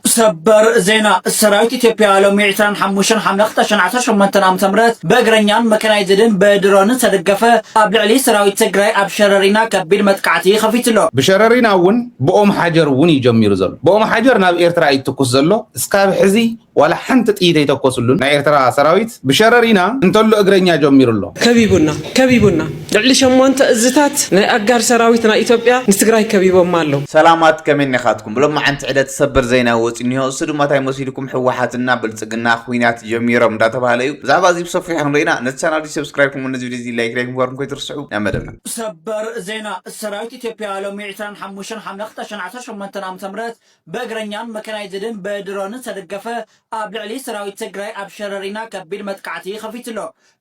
ሰበር ዜና ሰራዊት ኢትዮጵያ ሎሚ ዕስራን ሓሙሽተን ሓምለ ክልተ ሽሕን ዓሰርተ ሸሞንተን ዓመተ ምህረት ብእግረኛን መካናይዝድን ብድሮንን ዝተደገፈ ኣብ ልዕሊ ሰራዊት ትግራይ ኣብ ሸረሪና ከቢድ መጥቃዕቲ ከፊቱ ኣሎ። ብሸረሪና እውን ብኦም ሓጀር እውን እዩ ጀሚሩ ዘሎ። ብኦም ሓጀር ናብ ኤርትራ እዩ ዝትኩስ ዘሎ። እስካብ ሕዚ ዋላ ሓንቲ ጥይት ኣይተኮስሉን ናይ ኤርትራ ሰራዊት። ብሸረሪና እንተሎ እግረኛ ጀሚሩ ኣሎ። ከቢቡና ከቢቡና! ልዕሊ ሸሞንተ እዝታት ናይ ኣጋር ሰራዊት ናይ ኢትዮጵያ ንትግራይ ከቢቦማ ኣለዉ። ሰላማት ከመይ እኒኻትኩም ብሎማዓንቲ ዕለት ሰበር ዘይና ወፂኡ እኒሆ እሱ ድማ ታይ መሲሉኩም ሕዋሓት እና ብልፅግና ኹይናት ጀሚሮም እንዳተባሃለ እዩ ብዛዕባ እዙይ ብሰፊሑ ክንሪኢ ኢና ነዚ ቻናል እዙይ ሰብስክራይብ ክምኡ ነዚ ቪድዮ እዙይ ላይክ ላይክ ምግባርኩም ከይትርስዑ ናብ መደብና ሰበር ዜና ሰራዊት ኢትዮጵያ ሎሚ ዕስራን ሓሙሽተን ሓምለ ክልተ ሽሕን ዓሰርተ ሸሞንተን ዓመተ ምህረት ብእግረኛን መካናይዝድን ብድሮንን ዝተደገፈ ኣብ ልዕሊ ሰራዊት ትግራይ ኣብ ሸረሪና ከቢድ መጥቃዕቲ ከፊቱ'ሎ።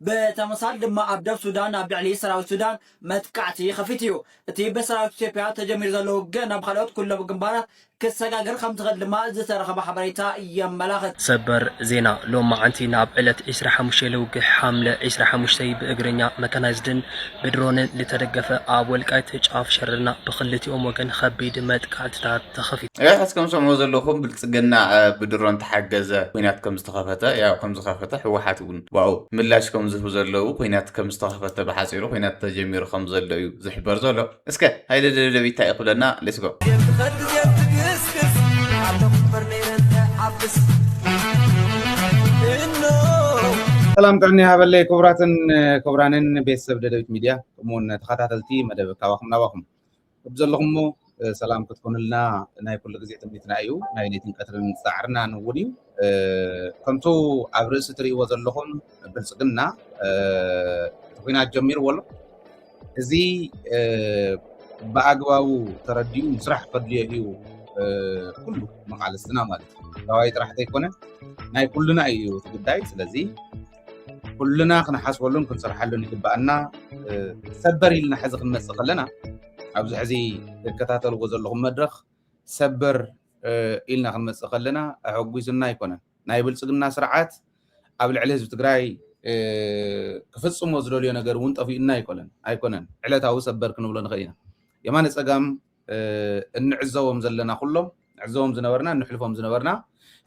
ብተመሳል ድማ ኣብ ደብ ሱዳን ኣብ ልዕሊ ሰራዊት ሱዳን መጥቃዕቲ ከፊቱ እዩ። እቲ ብሰራዊት ኢትዮጵያ ተጀሚሩ ዘሎ ውግእ ናብ ኻልኦት ኩሎም ግንባራት ክሰጋገር ከምዝኽእል ድማ ዝተረኸበ ሓበሬታ የመላኽት። ሰበር ዜና ሎማዕንቲ ናብ ዕለት ዕስራ ሓሙሽተ ለውግሕ ሓምለ ዕስራ ሓሙሽተ ብእግረኛ መካናይዝድን ብድሮንን ልተደገፈ ኣብ ወልቃይት ጫፍ ሸረና ብክልቲኦም ወገን ኸቢድ መጥቃዕትታት ተኸፊቱ። ያው ሕዚ ከምሰምዑ ዘለኹም ብልፅግና ብድሮን ተሓገዘ ኩናት ከምዝተኸፈተ ያው ከምዝኸፈተ ህወሓት እውን ብኣኡ ምላሽ ከም ዝህቡ ዘለዉ ኩናት ከም ዝተኸፈተ ብሓጺሩ ኩናት ተጀሚሩ ከም ዘሎ እዩ ዝሕበር ዘሎ። እስከ ሃይለ ደደቢት ታይ እዩ ክብለና let's go። ሰላም ጥዕና ይሃበለይ ክቡራትን ክቡራንን ቤተሰብ ደደቢት ሚድያ ከምኡውን ተኸታተልቲ መደብ ካባኹም ናባኹም ከምዘለኹሞ ሰላም ክትኮኑልና ናይ ኩሉ ግዜ ትምኒትና እዩ ናይ ሌትን ቀትርን ፃዕርናን እውን እዩ ከምቱ ኣብ ርእሲ ትርእይዎ ዘለኹም ብልፅግና እቲ ኩናት ጀሚርዎ ኣሎ እዚ ብኣግባቡ ተረዲኡ ምስራሕ ከድልዮ እዩ ኩሉ መቃልስትና ማለት እዩ ተዋይ ጥራሕ ዘይኮነ ናይ ኩሉና እዩ እቲ ጉዳይ ስለዚ ኩልና ክንሓስበሉን ክንሰርሓሉን ይግባኣና ሰበር ኢልና ሕዚ ክንመፅእ ከለና ኣብዚ ሕዚ ትከታተልዎ ዘለኹም መድረኽ ሰበር ኢልና ክንመፅእ ከለና ኣሐጒሱና ኣይኮነን ናይ ብልፅግና ስርዓት ኣብ ልዕሊ ህዝቢ ትግራይ ክፍፅሞ ዝደልዮ ነገር እውን ጠፊኡና ኣይኮነን ኣይኮነን ዕለታዊ ሰበር ክንብሎ ንኽእል ኢና የማነ ፀጋም እንዕዘቦም ዘለና ኩሎም ንዕዘቦም ዝነበርና እንሕልፎም ዝነበርና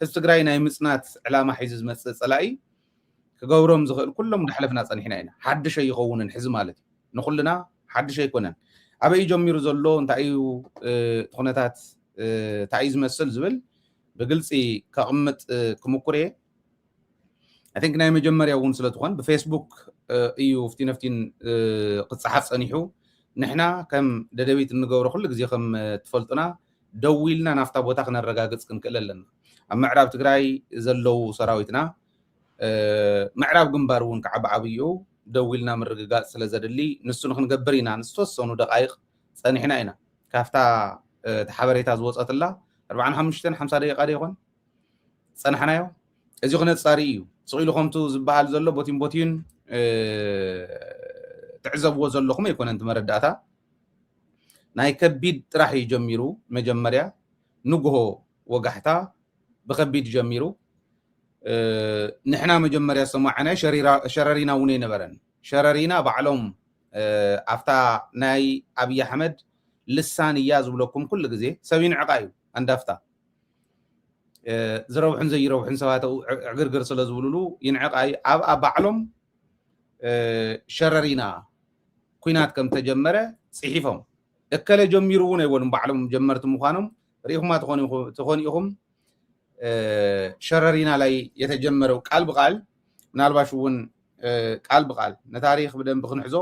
ህዝቢ ትግራይ ናይ ምፅናት ዕላማ ሒዙ ዝመፅእ ፀላኢ ክገብሮም ዝኽእል ኩሎም እንዳሕለፍና ፀኒሕና ኢና ሓድሽ ኣይኸውንን ሕዚ ማለት እዩ ንኩልና ሓድሽ ኣይኮነን ኣበይ እዩ ጀሚሩ ዘሎ እንታይ እዩ ኩነታት እንታይ እዩ ዝመስል ዝብል ብግልፂ ከቕምጥ ክምኩር እየ ኣይ ቲንክ ናይ መጀመርያ እውን ስለትኾን ብፌስቡክ እዩ ፍቲ ነፍቲን ክፀሓፍ ፀኒሑ ንሕና ከም ደደቢት እንገብሮ ኩሉ ግዜ ከም ትፈልጡና ደዊልና ናፍታ ቦታ ክነረጋግፅ ክንክእል ኣለና ኣብ ምዕራብ ትግራይ ዘለው ሰራዊትና ምዕራብ ግንባር እውን ከዓ ብዓብይኡ ደዊልና ምርግጋፅ ስለ ዘድሊ ንሱ ንክንገብር ኢና ንዝተወሰኑ ደቃይቅ ፀኒሕና ኢና ካብታ እቲ ሓበሬታ ዝወፀትላ 45 50 ደቂቃ ዶ ይኾን ዝፀናሕናዮ እዚ ክነፃሪ እዩ ስቂሉ ከምቱ ዝበሃል ዘሎ ቦቲን ቦቲን ትዕዘብዎ ዘለኹም ኣይኮነን እቲ መረዳእታ ናይ ከቢድ ጥራሕ እዩ ጀሚሩ መጀመርያ ንግሆ ወጋሕታ ብከቢድ ጀሚሩ ንሕና መጀመርያ ዝተማዕናዮ ሸረሪና እውን ኣይነበረን ሸረሪና ባዕሎም ኣብታ ናይ ኣብዪ ኣሕመድ ልሳን እያ ዝብለኩም ኩሉ ግዜ ሰብ ይንዕቃ እዩ ኣንዳፍታ ዝረብሑን ዘይረብሑን ሰባት ዕግርግር ስለ ዝብሉሉ ይንዕቕ ኣዩ ኣብኣ ባዕሎም ሸረሪና ኩናት ከም ተጀመረ ጽሒፎም እከለ ጀሚሩ እውን ኣይበሉም ባዕሎም ጀመርቲ ምዃኖም ርኢኹማ ትኾኑ ኢኹም ሸረሪና ላይ የተጀመረው ቃል ብቃል ምናልባሽ እውን ቃል ብቃል ንታሪክ ብደንብ ክንሕዞ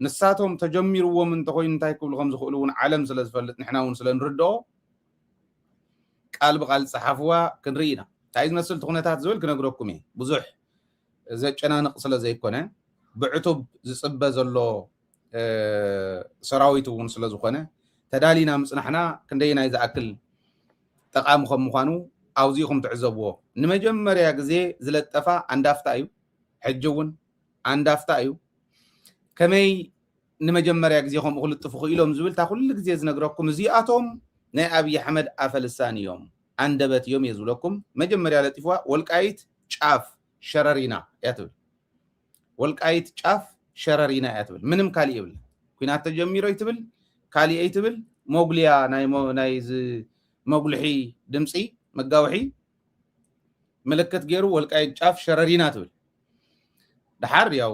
ንሳቶም ተጀሚርዎም እንተኮይኑ እንታይ ክብሉ ከም ዝኽእሉ እውን ዓለም ስለ ዝፈልጥ ንሕና እውን ስለ ንርድኦ ቃል ብቃል ጸሓፍዋ ክንርኢ ኢና ታይ ዝመስል ትኹነታት ዝብል ክነግረኩም እየ ብዙሕ ዘጨናንቅ ስለ ዘይኮነ ብዕቱብ ዝጽበ ዘሎ ሰራዊት እውን ስለ ዝኾነ ተዳሊና ምጽናሕና ክንደይናይ ዝኣክል ጠቃሚ ከም ምዃኑ ኣውዚኹም ትዕዘብዎ ንመጀመርያ ግዜ ዝለጠፋ ኣንዳፍታ እዩ ሕጂ እውን ኣንዳፍታ እዩ ከመይ ንመጀመርያ ግዜ ከምኡ ክልጥፉ ክኢሎም ዝብል እታ ኩሉ ግዜ ዝነግረኩም እዚኣቶም ናይ ኣብይ ኣሕመድ ኣፈ ልሳን እዮም ኣንደበት እዮም እየ ዝብለኩም መጀመርያ ለጢፍዋ ወልቃይት ጫፍ ሸረሪና እያ ትብል ወልቃይት ጫፍ ሸረሪና እያ ትብል ምንም ካሊእ የብላ ኩናት ተጀሚሮ ይትብል ካሊእ ይትብል መጉልያ ናይ መጉልሒ ድምፂ መጋውሒ ምልክት ገይሩ ወልቃይት ጫፍ ሸረሪና ትብል ደሓር ያው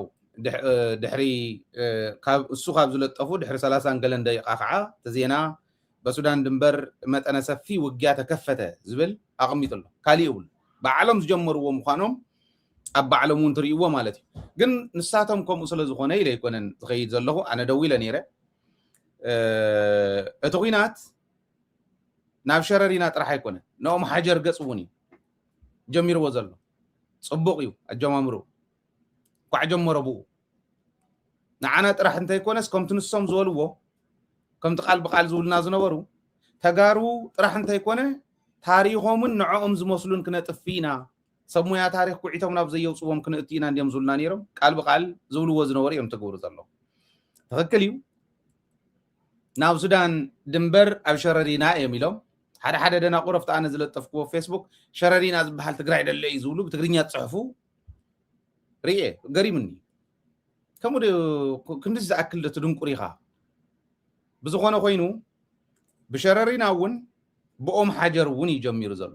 ድሕሪ ካብ እሱ ካብ ዝለጠፉ ድሕሪ ሰላሳን ገለን ደቂቃ ከዓ እቲ ዜና በሱዳን ድንበር መጠነ ሰፊ ውጊያ ተከፈተ ዝብል ኣቐሚጡ ኣሎ ካሊእ እውን ባዕሎም ዝጀመርዎ ምዃኖም ኣብ ባዕሎም እውን ትርእይዎ ማለት እዩ ግን ንሳቶም ከምኡ ስለ ዝኾነ ኢለ ኣይኮነን ዝኸይድ ዘለኹ ኣነ ደው ኢለ ነይረ እቲ ኩናት ናብ ሸረሪና ጥራሕ ኣይኮነን ንኦም ሓጀር ገፅ እውን እዩ ጀሚርዎ ዘሎ ጽቡቅ እዩ ኣጀማምርኡ ኳዕ ጀመሮ ብኡ ንዓና ጥራሕ እንተይኮነስ ከምቲ ንሶም ዝበልዎ ከምቲ ቃል ብቃል ዝብሉና ዝነበሩ ተጋሩ ጥራሕ እንተይኮነ ታሪኾምን ንዕኦም ዝመስሉን ክነጥፍ ኢና ሰብ ሙያ ታሪኽ ኩዒቶም ናብ ዘየውፅዎም ክንእቱ ኢና እንዲዮም ዝብሉና ነይሮም ቃል ብቃል ዝብልዎ ዝነበሩ እዮም ትግብሩ ዘለዉ ትኽክል እዩ ናብ ሱዳን ድንበር ኣብ ሸረሪና እዮም ኢሎም ሓደ ሓደ ደናቑር ኣብቲ ኣነ ዝለጠፍክዎ ፌስቡክ ሸረሪና ዝበሃል ትግራይ ደሎ እዩ ዝብሉ ብትግርኛ ዝፅሕፉ ርኤ ገሪሙኒ ከምኡ ዶ ክንድዚ ዝኣክል ዶ ትድንቁር ኢኻ ብዝኾነ ኮይኑ ብሸረሪና እውን ብኦም ሓጀር እውን እዩ ጀሚሩ ዘሎ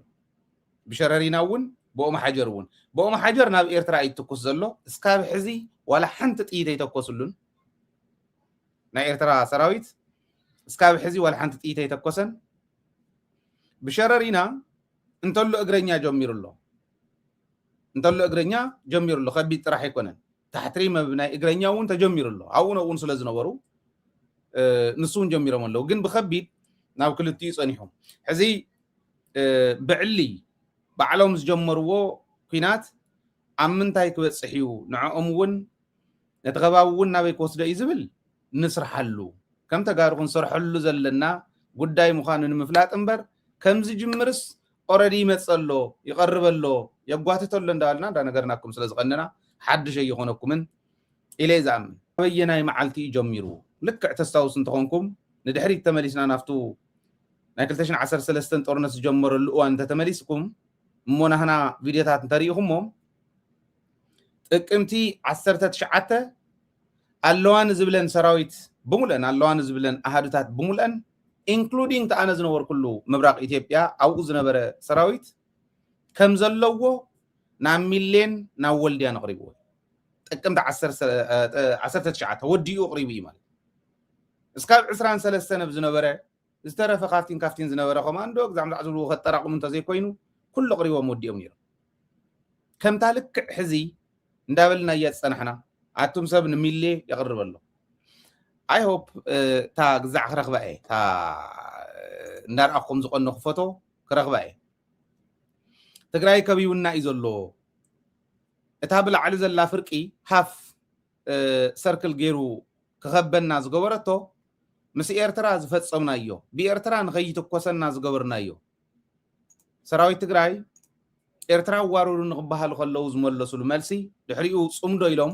ብሸረሪና እውን ብኦም ሓጀር እውን ብኦም ሓጀር ናብ ኤርትራ እዩ ትኩስ ዘሎ እስካብ ሕዚ ዋላ ሓንቲ ጥይት ኣይተኮስሉን ናይ ኤርትራ ሰራዊት እስካብ ሕዚ ዋላ ሓንቲ ጥይት ኣይተኮሰን ብሸረሪና እንተሎ እግረኛ ጀሚሩ ኣሎ እንተሎ እግረኛ ጀሚሩ ኣሎ ከቢድ ጥራሕ ኣይኮነን ታሕቲ ሪመብ ናይ እግረኛ እውን ተጀሚሩ ኣሎ ኣብኡ ነብኡን ስለ ዝነበሩ ንሱ እውን ጀሚሮም ኣለዉ ግን ብከቢድ ናብ ክልቲኡ ፀኒሑ ሕዚ ብዕሊ ባዕሎም ዝጀመርዎ ኩናት ኣብ ምንታይ ክበፅሕ እዩ ንዕኦም እውን ነቲ ከባቢ እውን ናበይ ክወስዶ እዩ ዝብል ንስርሓሉ ከም ተጋሩ ክንሰርሐሉ ዘለና ጉዳይ ምዃኑ ንምፍላጥ እምበር ከምዝጅምርስ ኦረዲ ይመፅእ ኣሎ ይቐርብ ኣሎ የጓትት ኣሎ እንዳበልና እንዳነገርናኩም ስለ ዝቐንና ሓድሽ ኣይኾነኩምን ኢለ ዝኣምን ኣበየናይ መዓልቲ እዩ ጀሚሩ ልክዕ ተስታውስ እንተኾንኩም ንድሕሪት ተመሊስና ናብቱ ናይ 213 ጦርነት ዝጀመረሉ እዋን እንተተመሊስኩም እሞ ናህና ቪድዮታት እንተሪኢኹሞም ጥቅምቲ ዓሰርተ ትሽዓተ ኣለዋ ንዝብለን ሰራዊት ብሙልአን ኣለዋ ንዝብለን ኣሃዱታት ብሙልአን ኢንክሉዲንግ ተኣነ ዝነበርኩሉ ምብራቅ ኢትዮጵያ ኣብኡ ዝነበረ ሰራዊት ከም ዘለዎ ናብ ሚሌን ናብ ወልድያን ኣቕሪብዎ ጥቅምቲ ዓሰርተ ትሽዓተ ወዲኡ ኣቕሪቡ እዩ ማለት እስካብ ዕስራን ሰለስተን ኣብ ዝነበረ ዝተረፈ ካፍቲን ካፍቲን ዝነበረ ኮማንዶ ግዛዕምዛዕ ዝብልዎ ከጠራቕሙ እንተዘይኮይኑ ኩሉ ኣቕሪቦም ወዲኦም ነይሮም። ከምታ ልክዕ ሕዚ እንዳበልናያ ዝጸናሕና ኣቱም ሰብ ንሚሌ የቕርብ ኣሎ ኣይ ሆፕ እታ ግዛዕ ክረኽባ እየ እታ እንዳርኣኹም ዝቐነኹ ፎቶ ክረኽባ እየ ትግራይ ከቢውና እዩ ዘሎ እታ ብላዕሊ ዘላ ፍርቂ ሃፍ ሰርክል ጌሩ ክኸበና ዝገበረቶ ምስ ኤርትራ ዝፈጸምናዮ ብኤርትራ ንኸይትኮሰና ዝገበርናዮ ሰራዊት ትግራይ ኤርትራ ኣዋርዱ ንክበሃሉ ከለዉ ዝመለሱሉ መልሲ ድሕሪኡ ጽምዶ ኢሎም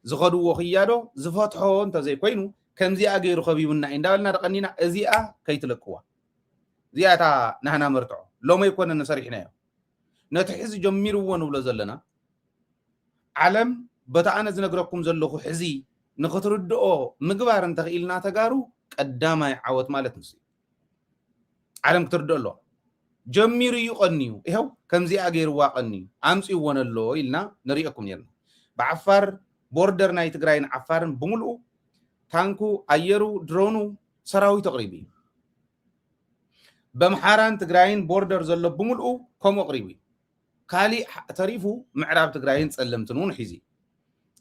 ዝኸድዎ ክያዶ ዝፈትሖ እንተዘይኮይኑ ከምዚኣ ገይሩ ከቢቡና እዩ እንዳበልና ደቀኒና እዚኣ ከይትለቅዋ እዚኣ እታ ናህና መርትዖ ሎመይ ኮነ ንሰሪሕናዮ ነቲ ሕዚ ጀሚርዎ ንብሎ ዘለና ዓለም በቲ ኣነ ዝነግረኩም ዘለኹ ሕዚ ንክትርድኦ ምግባር እንተኽኢልና ተጋሩ ቀዳማይ ዓወት ማለት ንሱ እዩ። ዓለም ክትርድኦ ኣለዋ። ጀሚሩ እዩ ቀንዩ ይኸው ከምዚኣ ገይርዋ ቀንዩ ኣምፅእዎ ነሎ ኢልና ንሪኦኩም ነርና ብዓፋር ቦርደር ናይ ትግራይን ዓፋርን ብምልኡ ታንኩ ኣየሩ ድሮኑ ሰራዊት ኣቕሪቡ እዩ በምሓራን ትግራይን ቦርደር ዘሎ ብምልኡ ከምኡ ኣቕሪቡ እዩ ካሊእ ተሪፉ ምዕራብ ትግራይን ፀለምትን እውን ሒዙ እዩ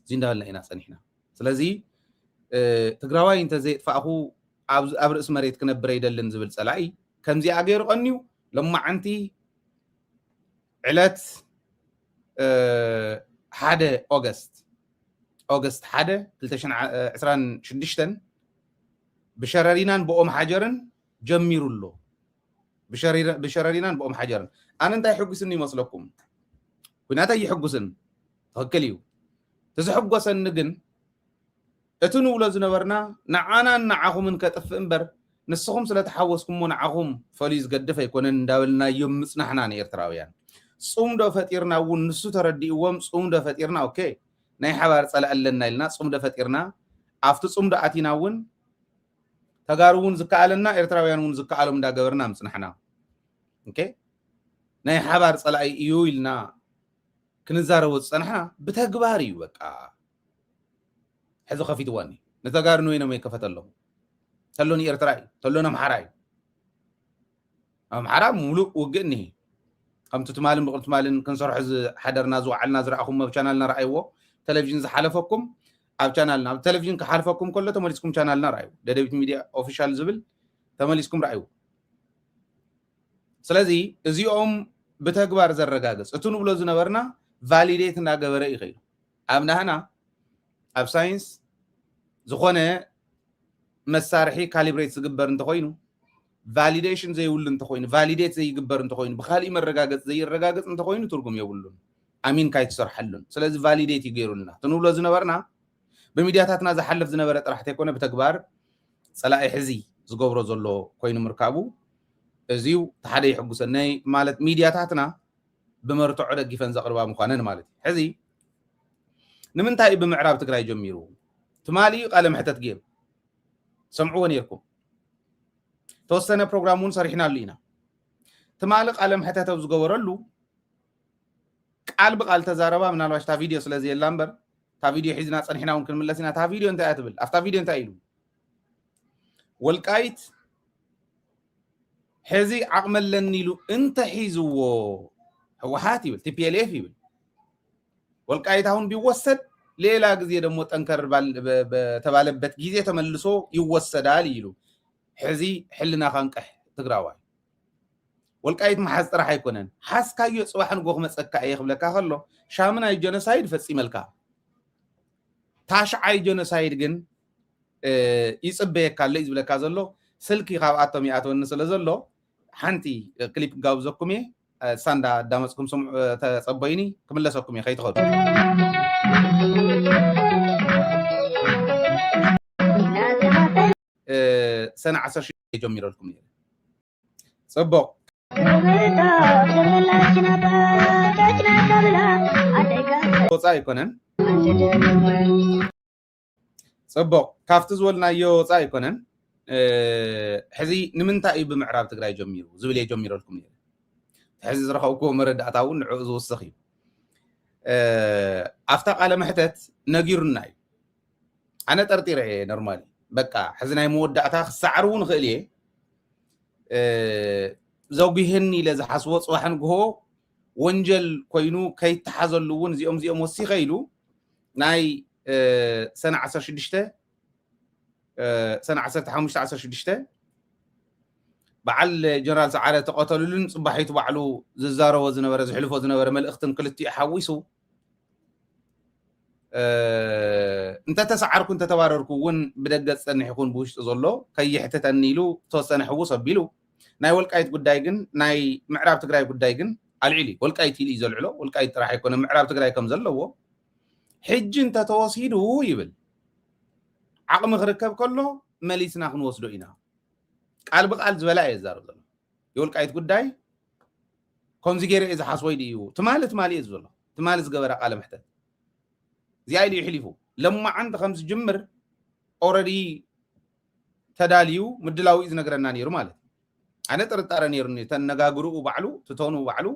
እዚ እንዳበልና ኢና ፀኒሕና ስለዚ ትግራዋይ እንተዘየጥፋእኹ ኣብ ርእሲ መሬት ክነብር ኣይደልን ዝብል ፀላኢ ከምዚኣ ገይሩ ቀንዩ ሎማዓንቲ ዕለት ሓደ ኦገስት ኦገስት ሓደ ክልተ ሽሕን ዕስራን ሽዱሽተን ብሸረሪናን ብኦም ሓጀርን ጀሚሩ ኣሎ ብሸረሪናን ብኦም ሓጀርን ኣነ እንታይ ሕጒስኒ ይመስለኩም ኩናት ኣይሕጉስን ትኽክል እዩ እቲ ዘሕጎሰኒ ግን እቲ ንብሎ ዝነበርና ንዓናን ንዓኹምን ከጥፍእ እምበር ንስኹም ስለተሓወስኩሞ ንዓኹም ፈልዩ ዝገድፍ ኣይኮነን እንዳበልናዮም ምጽናሕና ንኤርትራውያን ጽምዶ ፈጢርና እውን ንሱ ተረዲእዎም ጽምዶ ፈጢርና ኦኬ ናይ ሓባር ጸላኢ ኣለና ኢልና ጽምዶ ፈጢርና ኣብቲ ጽምዶ ኣቲና እውን ተጋሩ እውን ዝከኣለና ኤርትራውያን እውን ዝከኣሎም እንዳገበርና ምጽናሕና ኦኬ ናይ ሓባር ጸላኢ እዩ ኢልና ክንዛረቦ ዝጸናሕና ብተግባር እዩ በቃ ሕዚ ከፊትዋ እኒ ንተጋሩ ንበይኖም እየ ከፈተሎም ተሎ ንኤርትራ እዩ ተሎ ነምሓራ እዩ ኣምሓራ ሙሉእ ውግእ እኒሄ ከምቲ ትማልን ብቕል ትማልን ክንሰርሖ ዝሓደርና ዝወዓልና ዝረኣኹም ኣብ ቻናልና ረኣይዎ ቴሌቭዥን ዝሓለፈኩም ኣብ ቻናልና ኣብ ቴሌቭዥን ክሓልፈኩም ከሎ ተመሊስኩም ቻናልና ረኣዩ ደደቢት ሚድያ ኦፊሻል ዝብል ተመሊስኩም ረኣዩ ስለዚ እዚኦም ብተግባር ዘረጋግፅ እቲ ንብሎ ዝነበርና ቫሊዴት እናገበረ ይኸይዱ ኣብ ናህና ኣብ ሳይንስ ዝኾነ መሳርሒ ካሊብሬት ዝግበር እንተኾይኑ ቫሊዴሽን ዘይብሉ እንተኾይኑ ቫሊዴት ዘይግበር እንተኾይኑ ብካሊእ መረጋገፂ ዘይረጋገፅ እንተኾይኑ ትርጉም የብሉን ኣሚንካ ይትሰርሓሉን ስለዚ ቫሊዴት እዩ ገይሩልና ትንብሎ ዝነበርና ብሚድያታትና ዝሓልፍ ዝነበረ ጥራሕ ተይኮነ ብተግባር ፀላኢ ሕዚ ዝገብሮ ዘሎ ኮይኑ ምርካቡ እዚው ሓደ ይሕጉሰነይ ማለት ሚድያታትና ብመርትዖ ደጊፈን ዘቕርባ ምዃነን ማለት እዩ። ሕዚ ንምንታይ እዩ ብምዕራብ ትግራይ ጀሚሩ? ትማሊ ቃለ መሕተት ጌሩ ሰምዕዎ ነይርኩም። ተወሰነ ፕሮግራም እውን ሰሪሕናሉ ኢና። ትማሊ ቃለ መሕተት ኣብ ዝገበረሉ ቃል ብቃል ተዛረባ ምናልባሽ እታ ቪድዮ ስለ ዘየላ እምበር እታ ቪድዮ ሒዝና ፀኒሕና እውን ክንምለስ ኢና። እታ ቪድዮ እንታይ እያ ትብል? ኣብታ ቪድዮ እንታይ ኢሉ ወልቃይት ሕዚ ዓቕሚ ኣለኒ ኢሉ እንተሒዝዎ ህወሓት ይብል ቲፒኤልኤፍ ይብል ወልቃይት አሁን ቢወሰድ ሌላ ጊዜ ደግሞ ጠንከር በተባለበት ጊዜ ተመልሶ ይወሰዳል ይሉ ሕዚ ሕልና ካንቀሕ ትግራዋይ ወልቃይት መሓዝ ጥራሕ ኣይኮነን ሓዝካዮ ፅባሕ ንጎ ክመፀካ እየ ክብለካ ከሎ ሻምናይ ጀኖሳይድ ፈፂመልካ ታሽዓይ ጆኖሳይድ ግን ይጽበየካ ኣሎ እዩ ዝብለካ ዘሎ ስልኪ ካብኣቶም ይኣተወኒ ስለ ዘሎ ሓንቲ ክሊፕ ጋብዘኩም እየ ሳንዳ ኣዳመፅኩም ስምዑ ተፀበዩኒ ክምለሰኩም እየ ከይትኸዱ ሰነ ዓሰርተ ጀሚረልኩም እየ ጽቡቕ ወፃእ ኣይኮነን ፅቡቅ ካብቲ ዝበልናዮ ወፃእ ኣይኮነን ሕዚ ንምንታይ እዩ ብምዕራብ ትግራይ ጀሚሩ ዝብል እየ ጀሚረልኩም ነ ሕዚ ዝረኸብኩዎ መረዳእታ እውን ንዕኡ ዝውስኽ እዩ ኣብታ ቃለ መሕተት ነጊሩና እዩ ኣነ ጠርጢረ እየ ኖርማሊ በቃ ሕዚ ናይ መወዳእታ ክሰዓር እውን ክእል እየ ዘጒህን ኢለ ዝሓስቦ ፅባሕ ንግሆ ወንጀል ኮይኑ ከይተሓዘሉ እውን እዚኦም እዚኦም ወሲኸ ኢሉ ናይ ሰነ 16 ሰነ 15 16 በዓል ጀነራል ሰዓረ ተቐተሉሉን ፅባሒቱ ባዕሉ ዝዛረቦ ዝነበረ ዝሕልፎ ዝነበረ መልእኽትን ክልቲኡ ሓዊሱ እንተተሰዓርኩ እንተተባረርኩ እውን ብደገ ዝፀንሕ ይኹን ብውሽጢ ዘሎ ከይሕትተኒ ኢሉ ዝተወሰነ ሕውስ ኣቢሉ ናይ ወልቃይት ጉዳይ ግን ናይ ምዕራብ ትግራይ ጉዳይ ግን ኣልዒሉ እዩ ወልቃይት ኢሉ እዩ ዘልዕሎ ወልቃይት ጥራሕ ኣይኮነ ምዕራብ ትግራይ ከም ዘለዎ ሕጂ እንተተወሲዱ ይብል ዓቕሚ ክርከብ ከሎ መሊስና ክንወስዶ ኢና ቃል ብቃል ዝበላ እየ ዛረብ ዘሎ የወልቃይት ጉዳይ ከምዚ ገይረ እየ ዝሓስቦ ኢሉ እዩ ትማሊ ትማሊ እየ ዝብል ኣለኹ ትማሊ ዝገበረ ቃለ መሕተት እዚኣ ኢሉ ይሕሊፉ ለማዓንቲ ከም ዝጅምር ኦረዲ ተዳልዩ ምድላው እዩ ዝነግረና ነይሩ ማለት እዩ ኣነ ጥርጣረ ነይሩኒ ተነጋግርኡ ባዕሉ ትተኑ ባዕሉ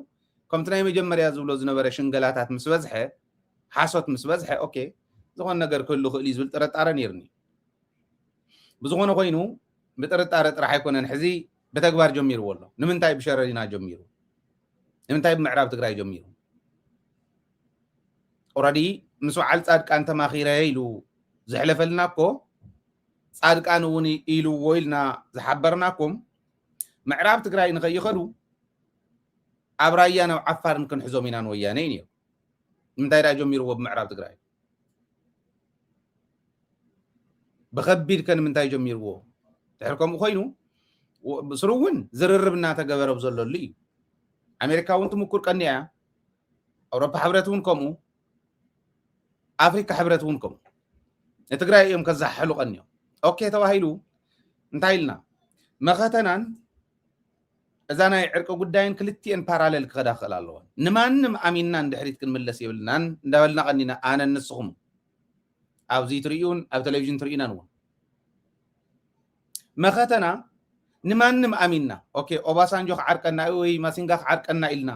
ከምቲ ናይ መጀመርያ ዝብሎ ዝነበረ ሽንገላታት ምስ በዝሐ ሓሶት ምስ በዝሐ ኦኬ ዝኾነ ነገር ክህሉ ክእል እዩ ዝብል ጥርጣረ ነይሩኒ ብዝኾነ ኮይኑ ብጥርጣረ ጥራሕ ኣይኮነን ሕዚ ብተግባር ጀሚርዎ ኣሎ። ንምንታይ ብሸረሪና ጀሚሩ? ንምንታይ ብምዕራብ ትግራይ ጀሚሩ? ኦረዲ ምስ በዓል ፃድቃን ተማኺረ ኢሉ ዘሕለፈልና እኮ ፃድቃን እውን ኢልዎ ኢልና ዝሓበርናኩም ምዕራብ ትግራይ ንኸይኸዱ ኣብ ራያን ኣብ ዓፋርን ክንሕዞም ኢና ንወያነ እዩ ነይሩ። ንምንታይ ዳ ጀሚርዎ ብምዕራብ ትግራይ? ብከቢድ ከ ንምንታይ ጀሚርዎ ድሕር ከምኡ ኮይኑ ብስሩ እውን ዝርርብ እናተገበረ ዘለሉ እዩ ኣሜሪካ እውን ትምኩር ቀኒያ እያ ኣውሮፓ ሕብረት እውን ከምኡ ኣፍሪካ ሕብረት እውን ከምኡ ንትግራይ እዮም ከዛሓሕሉ ቀኒዮም ኦኬ ተባሂሉ እንታይ ኢልና መኸተናን እዛ ናይ ዕርቂ ጉዳይን ክልቲኤን ፓራለል ክኸዳ ክኽእል ኣለወን። ንማንም ኣሚንና ንድሕሪት ክንምለስ የብልናን እንዳበልና ቀኒና ኣነን ንስኹም ኣብዚ ትርእዩን ኣብ ቴሌቪዥን ትርእዩናን እውን መኸተና ንማንም ኣሚንና ኦኬ ኦባሳንጆ ክዓርቀና እዩ ወይ ማሲንጋ ክዓርቀና ኢልና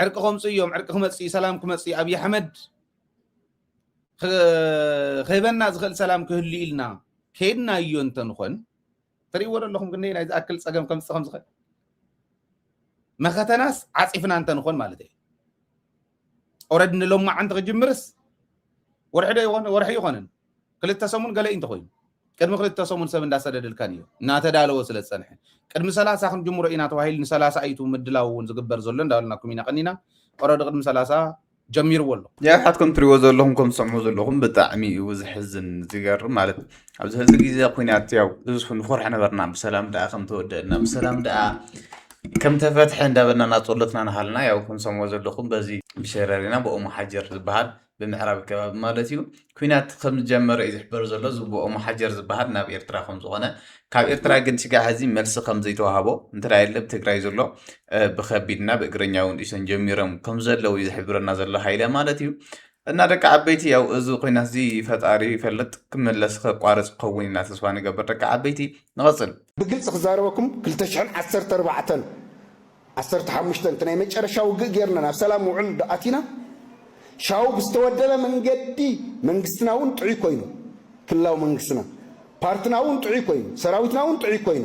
ዕርቂ ከምፁ እዮም ዕርቂ ክመፅእ እዩ ሰላም ክመፅእ እዩ ኣብዪ ኣሕመድ ክህበና ዝኽእል ሰላም ክህሉ ኢልና ከይድናዮ እንተንኾን ትርእይዎ ዶ ኣለኹም ክንደይ ናይ ዝኣክል ጸገም ከምጽእ ከም ዝኽእል መኸተናስ ዓጺፍና እንተ ንኾን ማለት እዩ ኦረድ ንሎማዓንቲ ክጅምርስ ወርሒ ዶ ይኾን ወርሒ ይኾንን ክልተ ሰሙን ገለ እንተኮይኑ ቅድሚ ክልተ ሰሙን ሰብ እንዳሰደድልካን እዩ እናተዳለወ ስለ ዝፀንሐ ቅድሚ ሰላሳ ክንጅምሮ ኢና ተባሂሉ ንሰላሳ እዩ ምድላው እውን ዝግበር ዘሎ እንዳበልናኩም ኢና ቀኒና ኦረዲ ቅድሚ ሰላሳ ጀሚርዎ ኣሎ። ንሕዋት ከም ትሪእዎ ዘለኹም ከም ትሰምዕዎ ዘለኹም ብጣዕሚ እዩ ዘሕዝን ዝገርም ማለት ኣብዚ ሕዚ ግዜ ኩናት ያው ብዙሕ ንኾርሕ ነበርና ብሰላም ደኣ ከም ተወደአልና ብሰላም ደኣ ከም ተፈትሐ እንዳበልና ናጸሎትና ንሃልና ያው ከም ትሰምዕዎ ዘለኹም በዚ ብሸረሪና ብኦሞ ሓጀር ዝበሃል ብምዕራብ ከባቢ ማለት እዩ ኲናት ከም ዝጀመረ እዩ ዝሕበር ዘሎ። እዚ ብ ኦሞ ሓጀር ዝበሃል ናብ ኤርትራ ከም ዝኾነ ካብ ኤርትራ ግን ስጋዕ ሐዚ መልሲ ከም ዘይተዋህቦ እንተዳየለ ብ ትግራይ ዘሎ ብከቢድ እና ብ እግረኛ እውን ጢሶም ጀሚሮም ከም ዘለዉ እዩ ዝሕብረና ዘሎ ሃይለ ማለት እዩ። እና ደቂ ዓበይቲ ያው እዚ ኲናት እዚ ፈጣሪ ይፈልጥ ክምለስ ከቋርጽ ክኸውን ኢና ተስፋ ንገብር ደቂ ዓበይቲ። ንቐጽል። ብግልጺ ክዛረበኩም ክልተ ሽሕን ዓሰርተ ኣርባዕተን ዓሰርተ ሓሙሽተ እቲ ናይ መጨረሻ ውግእ ጌርና ናብ ሰላም ውዕል እንዶ ኣቲና፣ ሻው ብዝተወደበ መንገዲ መንግስትና እውን ጥዑይ ኮይኑ፣ ክልላዊ መንግስትና፣ ፓርትና እውን ጥዑይ ኮይኑ፣ ሰራዊትና እውን ጥዑይ ኮይኑ፣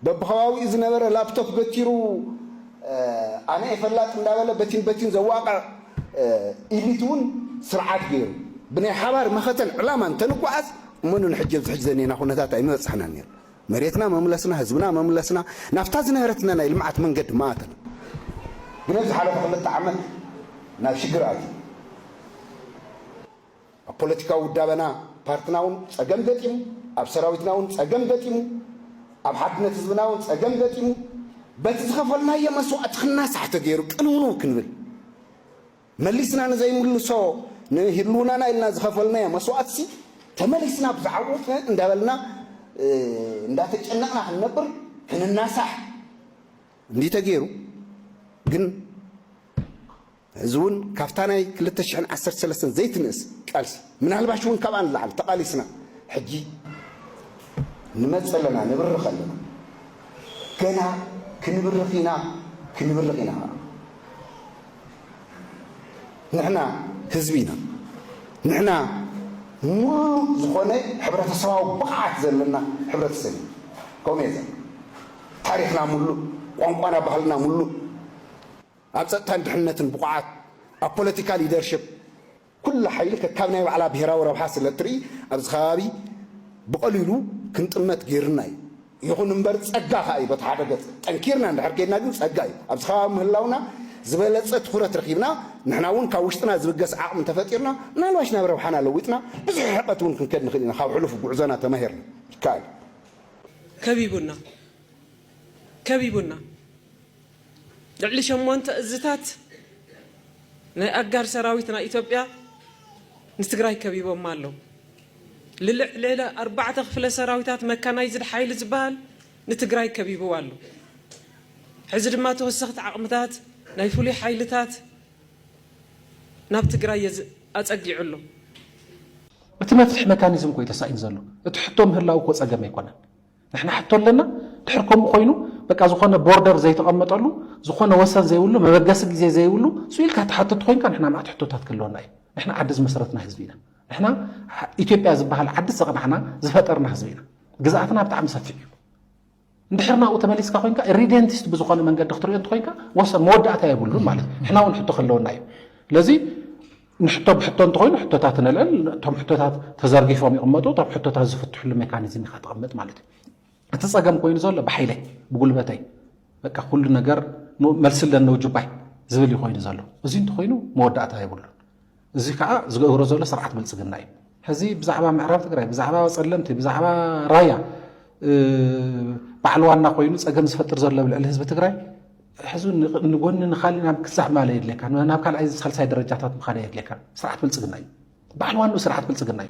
በብኸባቢኡ ዝነበረ ላፕቶፕ በቲሩ ኣነ እየ ፈላጥ እንዳበለ በቲን በቲን ዘዋቕዕ ኢሊት እውን ስርዓት ገይሩ፣ ብናይ ሓባር መኸተን ዕላማን ተንጓዓዝ እሞ ንሕጂ ኣብዚ ሕጂ ዘኒኤና ኩነታት ኣይምበጻሕናን ኔርና። መሬትና መምለስና ህዝብና መምለስና ናብታ ዝነበረትና ናይ ልምዓት መንገዲ መኣትና። ግን ኣብ ዝሓለፉ ክልተ ዓመት ናብ ሽግር ኣትዩ ኣብ ፖለቲካዊ ውዳበና ፓርትና ውን ፀገም ገጢሙ ኣብ ሰራዊትና ውን ፀገም ገጢሙ ኣብ ሓድነት ህዝብና ውን ፀገም ገጢሙ በቲ ዝኸፈልናዮ መስዋእቲ ክናሳሕ ተገይሩ ቅንውንው ክንብል መሊስና ንዘይምልሶ ንህልውናና ኢልና ዝኸፈልናዮ መስዋእቲሲ ተመሊስና ብዝዓወትነ እንዳበልና እንዳተጨነቕና ክንነብር ክንናሳሕ እንድዩ ተገይሩ ግን እዚ እውን ካብታ ናይ ክልተ ሽሕን ዓሰርተ ሰለስተን ዘይትንእስ ቃልሲ ምናልባሽ እውን ካብኣ ንላዕሊ ተቓሊስና ሕጂ ንመፅእ ኣለና ንብርኽ ኣለና ገና ክንብርኽ ኢና ክንብርኽ ኢና ንሕና ህዝቢ ኢና። ንሕና ሙሉእ ዝኾነ ሕብረተሰባዊ ብቕዓት ዘለና ሕብረተሰብ ኢና። ከምኡ እየ ዝብል። ታሪኽና ሙሉእ፣ ቋንቋና ባህልና ሙሉእ፣ ኣብ ፀጥታን ድሕንነትን ብቑዓት፣ ኣብ ፖለቲካ ሊደርሽፕ፣ ኩላ ሓይሊ ከካብ ናይ ባዕላ ብሄራዊ ረብሓ ስለ እትርኢ ኣብዚ ከባቢ ብቐሊሉ ክንጥመት ገይሩና እዩ። ይኹን እምበር ፀጋ ከኣ እዩ በቲ ሓደ ገፅ። ጠንኪርና እንድሕር ከይድና ግን ፀጋ እዩ። ኣብዚ ከባቢ ምህላውና ዝበለፀ ትኹረት ረኺብና ንሕና እውን ካብ ውሽጥና ዝብገስ ዓቕሚ እንተፈጢርና ምናልባሽ ናብ ረብሓና ለዊጥና ብዙሕ ርሕቐት እውን ክንከድ ንኽእል ኢና። ካብ ሕሉፍ ጉዕዞና ተማሂርና። ይከኣል እዩ። ከቢቡና! ከቢቡና! ልዕሊ ሸሞንተ እዝታት ናይ ኣጋር ሰራዊት ናይ ኢትዮጵያ ንትግራይ ከቢቦማ ኣለው። ልልዕሊ ኣርባዕተ ክፍለ ሰራዊታት መካናይዝድ ሓይሊ ዝበሃል ንትግራይ ከቢብዋ ኣሎ። ሕዚ ድማ ተወሰኽቲ ዓቕምታት ናይ ፍሉይ ሓይልታት ናብ ትግራይ ኣፀጊዑ ኣሎ። እቲ መፍትሒ መካኒዝም እኮ እዩ ተሳኢኑ ዘሎ። እቲ ሕቶ ምህላው እኮ ፀገም ኣይኮነን። ንሕና ሕቶ ኣለና ድሕር ከምኡ ኮይኑ በቃ ዝኾነ ቦርደር ዘይተቐመጠሉ ዝኾነ ወሰን ዘይብሉ መበገሲ ግዜ ዘይብሉ ሱ ኢልካ ተሓተቲ ኮይንካ ንሕና ማዕት ሕቶታት ክህልወና እዩ ንሕና ዓዲ ዝመሰረትና ህዝቢ ኢና ንሕና ኢትዮጵያ ዝበሃል ዓዲ ዘቕናዕና ዝፈጠርና ህዝቢ ኢና ግዝኣትና ብጣዕሚ ሰፊሕ እዩ እንድሕር ናብኡ ተመሊስካ ኮንካ ሪደንቲስት ብዝኾነ መንገዲ ክትሪኦ እንተኮንካ ወሰን መወዳእታ የብሉን ማለት እዩ ንሕና እውን ሕቶ ከለወና እዩ ስለዚ ንሕቶ ብሕቶ እንተኾይኑ ሕቶታት ነልዕል፣ እቶም ሕቶታት ተዘርጊፎም ይቕመጡ፣ እቶም ሕቶታት ዝፍትሕሉ ሜካኒዝም ኢኻ ተቐምጥ ማለት እዩ። እቲ ጸገም ኮይኑ ዘሎ ብሓይለይ ብጉልበተይ በቃ ኩሉ ነገር መልሲ ኣለኒ ውጁባይ ዝብል እዩ ኮይኑ ዘሎ። እዚ እንተኾይኑ መወዳእታ የብሉን። እዚ ከዓ ዝገብሮ ዘሎ ስርዓት ብልፅግና እዩ። ሕዚ ብዛዕባ ምዕራብ ትግራይ፣ ብዛዕባ ጸለምቲ፣ ብዛዕባ ራያ በዓል ዋና ኮይኑ ጸገም ዝፈጥር ዘሎ ልዕሊ ህዝቢ ትግራይ ሕዚ ንጎኒ ንካሊእ ናብ ክሳብ ማለ የድልየካ ናብ ካልኣይ ሳልሳይ ደረጃታት ምካን የድልየካ ስርዓት ብልፅግና እዩ በዓል ዋንኡ ስርዓት ብልፅግና እዩ